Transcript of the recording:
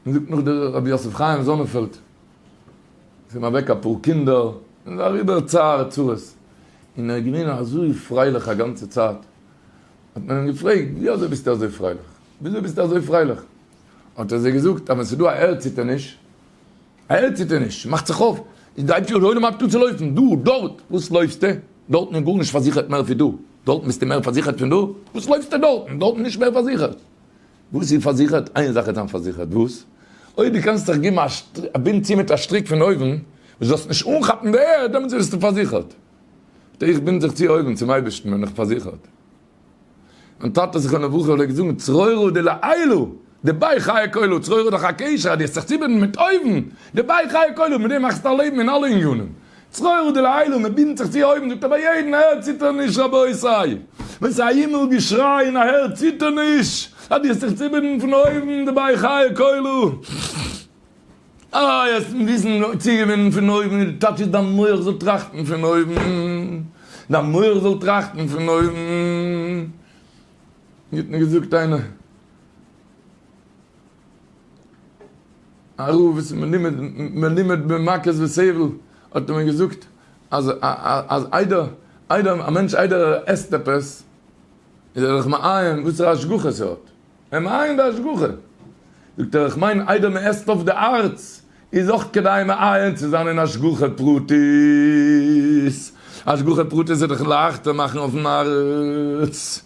מען זאגט נאך דער רבי יוסף חיים זאנענפעלד איז אים אוועק אפאר קינדער און איז אריבער צער צרות און ער איז געווען אזוי פרייליך א גאנצע צייט האט מען אים געפרעגט ווי אזוי ביסטו אזוי פרייליך ווי אזוי ביסטו אזוי פרייליך האט ער זיי געזאגט אז ווען ס'איז דא א ערדציטערניש א ערדציטערניש מאכט זיך אויף איז דער הייבשטער העולם הייבט אן צו לויפן דא דארט וואס לויפסטו דארטן איז גארנישט פארזיכערט מער ווי דא דארטן ביסטו מער פארזיכערט פון דא וואס לויפסטו דארטן דארטן איז נישט מער פארזיכערט וואס איז פארזיכערט? איין זאך איז דאן פארזיכערט, וואס? אויב דו קענסט דיך געבן א בינד צו מיט א שטריק פון אויבן, וואס זאלסט נישט אנכאפן די ערד, דעמאלטס ביסטו פארזיכערט. ט, איך בינד זיך צו אויבן, צום אייבערשטן, בין איך פארזיכערט. מיין טאטע זכרונו לברכה פלעגט זאגן, צרורה דלעילא, דבאי חיי כולו, צרורה איז דאך א קשר, אז דו האסט זיך צובינדן מיט אויבן, דבאי חיי כולו, מיט דעם מאכסטו א לעבן אין אלע עניינים. צרור דלעילא, מען בינדט זיך צו אויבן, זאגט ער ביי יעדן אהער ציטערניש רבותי! ווען ס'איז א הימל געשריי און א הערד ציטערניש, אז דו האסט זיך צובינדן פון אויבן דערביי חיי כלו, איי האסט מיט וויסן צוגעבינדן פון אויבן און די טייטש איז דיין מח זאל טראכטן פון אויבן, דיין מח זאל טראכטן פון אויבן, ווי האט מען געזאגט איינער? א רב וואס איז מלומד מלומד במכות וסבל האט אמאל געזאגט אז אז איידער איידער א מענטש איידער ער עסט עפעס איז ער זיך מעיין וואסערע השגחה ס'האט ער מעיין די השגחה זאגט ער איך מיין איידער מ'עסט אויף די הארץ איז אויך כדאי מעיין צו זיין אין השגחה פרטית השגחה פרטית איז דאך לייכטער מאכן אויפן הארץ.